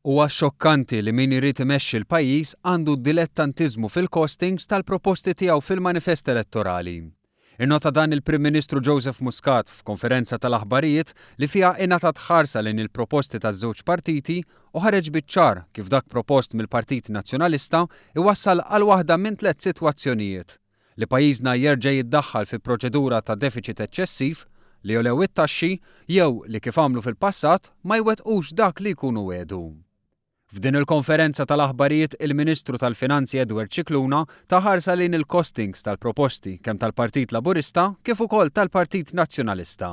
Huwa xokkanti li min irid imexxi l-pajjiż għandu dilettantiżmu fil-costings tal-proposti tiegħu fil-manifest elettorali. Innota dan il-Prim Ministru Joseph Muscat f'konferenza tal-aħbarijiet li fiha ingħatat ħarsa lejn il-proposti taż-żewġ partiti u ħareġ biċ-ċar kif dak propost mill-Partit Nazzjonalista jwassal għal waħda minn tliet sitwazzjonijiet. li pajjiżna jerġa' jiddaħħal fi proċedura ta' defiċit eċċessiv, li jogħlew it-taxxi jew li kif għamlu fil-passat ma jwettqux dak li jkunu wegħdu. F'din il-konferenza tal-aħbarijiet il-Ministru tal-Finanzi Edward Scicluna ta ħarsa lejn il-costings tal-proposti kemm tal-Partit Laburista kif ukoll tal-Partit Nazzjonalista.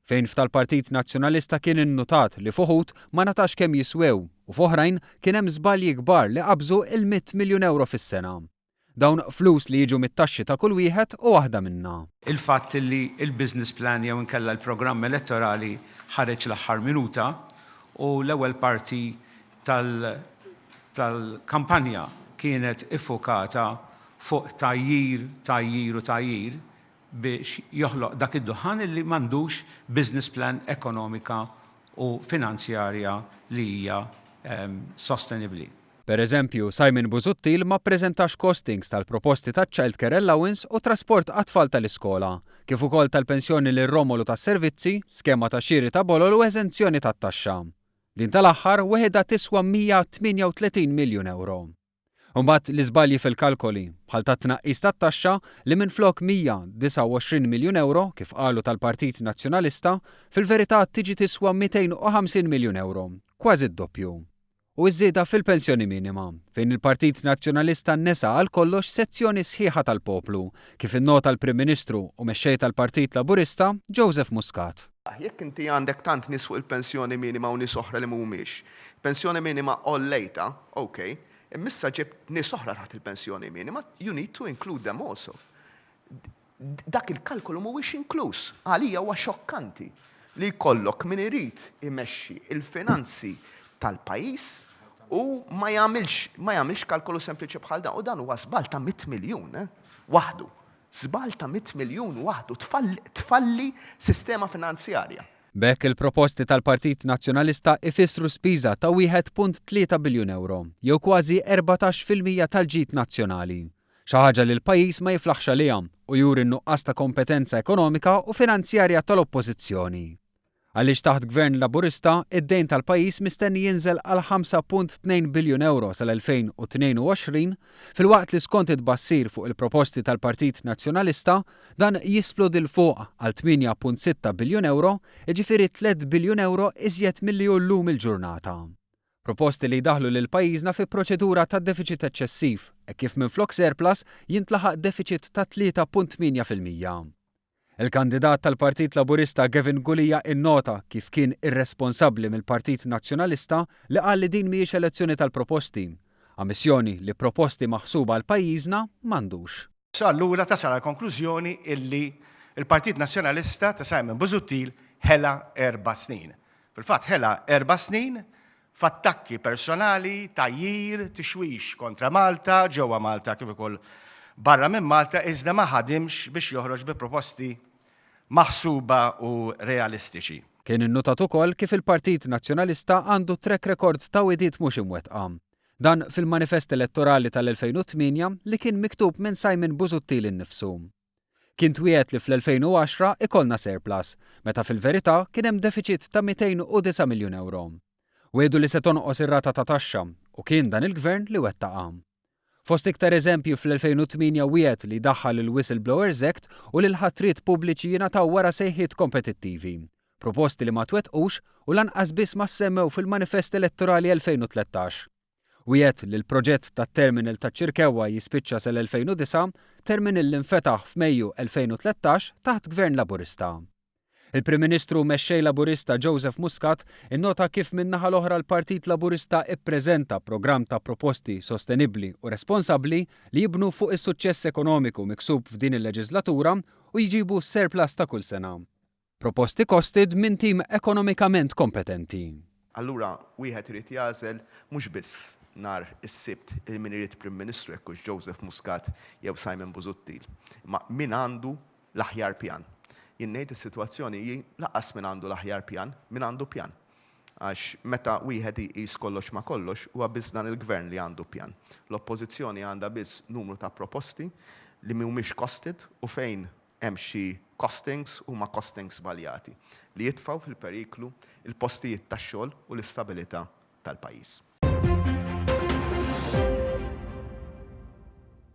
Fejn f'tal-Partit Nazzjonalista kien innutat li f'uħud ma ngħatax kemm jiswew u f'oħrajn kien hemm żbalji kbar li qabżu il-mitt miljun ewro fis-sena. Dawn flus li jiġu mit-taxxi ta' kull wieħed u waħda minna. Il-fatt li l-business plan jew inkella l-programm elettorali ħareġ l-aħħar minuta u l-ewwel parti tal-kampanja kienet iffukata fuq tgħajjir, tgħajjir u tgħajjir biex joħloq dak id-duħħan illi m'għandux business plan ekonomika u finanzjarja li hija sostenibbli. Per eżempju, Simon Busuttil ma ppreżentax costings tal-proposti taċ-childcare allowance u trasport għat-tfal tal-iskola, kif ukoll tal-pensjoni lil Romolu tas-servizzi, skema ta' xiri ta' bolol u eżenzjoni tat-taxxa. Din tal-aħħar weħidha tiswa 138 miljun ewro. Imbagħad l-iżbalji fil-kalkoli, bħal tat-tnaqqis tat-taxxa li minflok 129 miljun ewro, kif qalu tal-Partit Nazzjonalista, fil-verità tiġi tiswa 250 miljun ewro, kważi d-doppju. u ż-żieda fil-pensjoni minima, fejn il-Partit Nazzjonalista nesa għal kollox sezzjoni sħiħa tal-poplu, kif innota l-Prim Ministru u Mexxej tal-Partit Laburista, Joseph Muscat. Jekk inti għandek tant nies fuq il-pensjoni minima u nies oħra li mhumiex, pensjoni minima għollejtha, ok, imma issa ġibt nies oħra taħt il-pensjoni minima, you need to include them also. Dak il-kalkolu mhuwiex inkluż. Għalija huwa xokkanti li jkollok min irid imexxi l-finanzi tal-pajjiż u ma jagħmilx ma jagħmilx kalkolu sempliċi bħal dan. U dan huwa żball ta' mitt miljun waħdu. Żball ta' mitt miljun waħdu tfalli sistema finanzjarja. B'hekk il-proposti tal-Partit Nazzjonalista jfissru spiża ta' wieħed punt tlieta biljun ewro, jew kważi erbatax fil-mija tal-ġid nazzjonali. xi ħaġa li l-pajjiż ma jiflaħx għaliha u juri n-nuqqas ta' kompetenza ekonomika u finanzjarja tal-Oppożizzjoni. Għaliex taħt Gvern Laburista, id-dejn tal-pajjiż mistenni jinżel għal 5.2 biljun ewro sal-2022 filwaqt li skont it-tbassir fuq il-proposti tal-Partit Nazzjonalista dan jisplodi 'l fuq għal 8.6 biljun ewro, jiġifieri tliet biljun ewro iżjed milli hu llum il-ġurnata. Proposti li jdaħħlu lil pajjiżna fi proċedura ta' defiċit eċċessiv, hekk kif minflok surplus jintlaħaq defiċit ta' tlieta punt tmienja fil-mija. Il-kandidat tal-Partit Laburista Gavin Gulia innota kif kien irresponsabbli mill-Partit Nazzjonalista li qal li din mhijiex elezzjoni tal-proposti. Ammissjoni li proposti maħsuba għal pajjiżna m'għandux. So allura tasal għall-konklużjoni illi l-Partit Nazzjonalista ta' Simon Busuttil ħela erba' snin. Fil-fatt ħela erba' snin f'attakki personali, tgħajjir, tixwix kontra Malta, ġewwa Malta kif ukoll barra minn Malta iżda ma ħadimx biex joħroġ bi proposti maħsuba u realistiċi. Kien innutat ukoll kif il-Partit Nazzjonalista għandu track record ta' wegħdiet mhux imwettqa. Dan fil-manifest elettorali tal-2008 li kien miktub minn Simon Busuttil innifsu. Kien twiegħed li fl-2010 ikollna surplus, meta fil-verità kien hemm defiċit ta' 209 miljun ewro. Wiegħdu li se tonqos ir-rata ta' taxxa u kien dan il-Gvern li wettaqha. Fost iktar eżempji fl-2008 wiegħed li jdaħħal il-Whistle Blowers Act u li l-ħatriet pubbliċi jingħataw wara sejħiet kompetittivi Proposti li ma twettqux u lanqas biss ma ssemmew fil-manifest elettorali 2013. Wiegħed li l-proġett tat-terminal taċ-Ċirkewwa jispiċċa sal-2009, terminal li nfetaħ f'Mejju 2013 taħt Gvern Laburista. Il-Prim Ministru u Mexxej Laburista Joseph Muscat innota kif min-naħa l-oħra l-Partit Laburista ppreżenta programm ta' proposti sostenibbli u responsabbli li jibnu fuq is-suċċess ekonomiku miksub f'din il-leġislatura u jġibu surplus ta' kull sena. Proposti costed minn tim ekonomikament kompetenti. Allura wieħed irid jagħżel mhux biss nhar is-Sibt lil min irid Prim Ministru jekk hux Joseph Muscat jew Simon Busuttil, imma min għandu l-aħjar pjan. Jien ngħid is-sitwazzjoni hi lanqas min għandu l-aħjar pjan, min għandu pjan. Għax meta wieħed iqis kollox ma' kollox huwa biss dan il-Gvern li għandu pjan. L-Oppożizzjoni għandha biss numru ta' proposti li mhumiex costed u fejn hemm xi costings huma costings żbaljati li jitfgħu fil-periklu l-postijiet tax-xogħol u l-istabilità tal-pajjiż.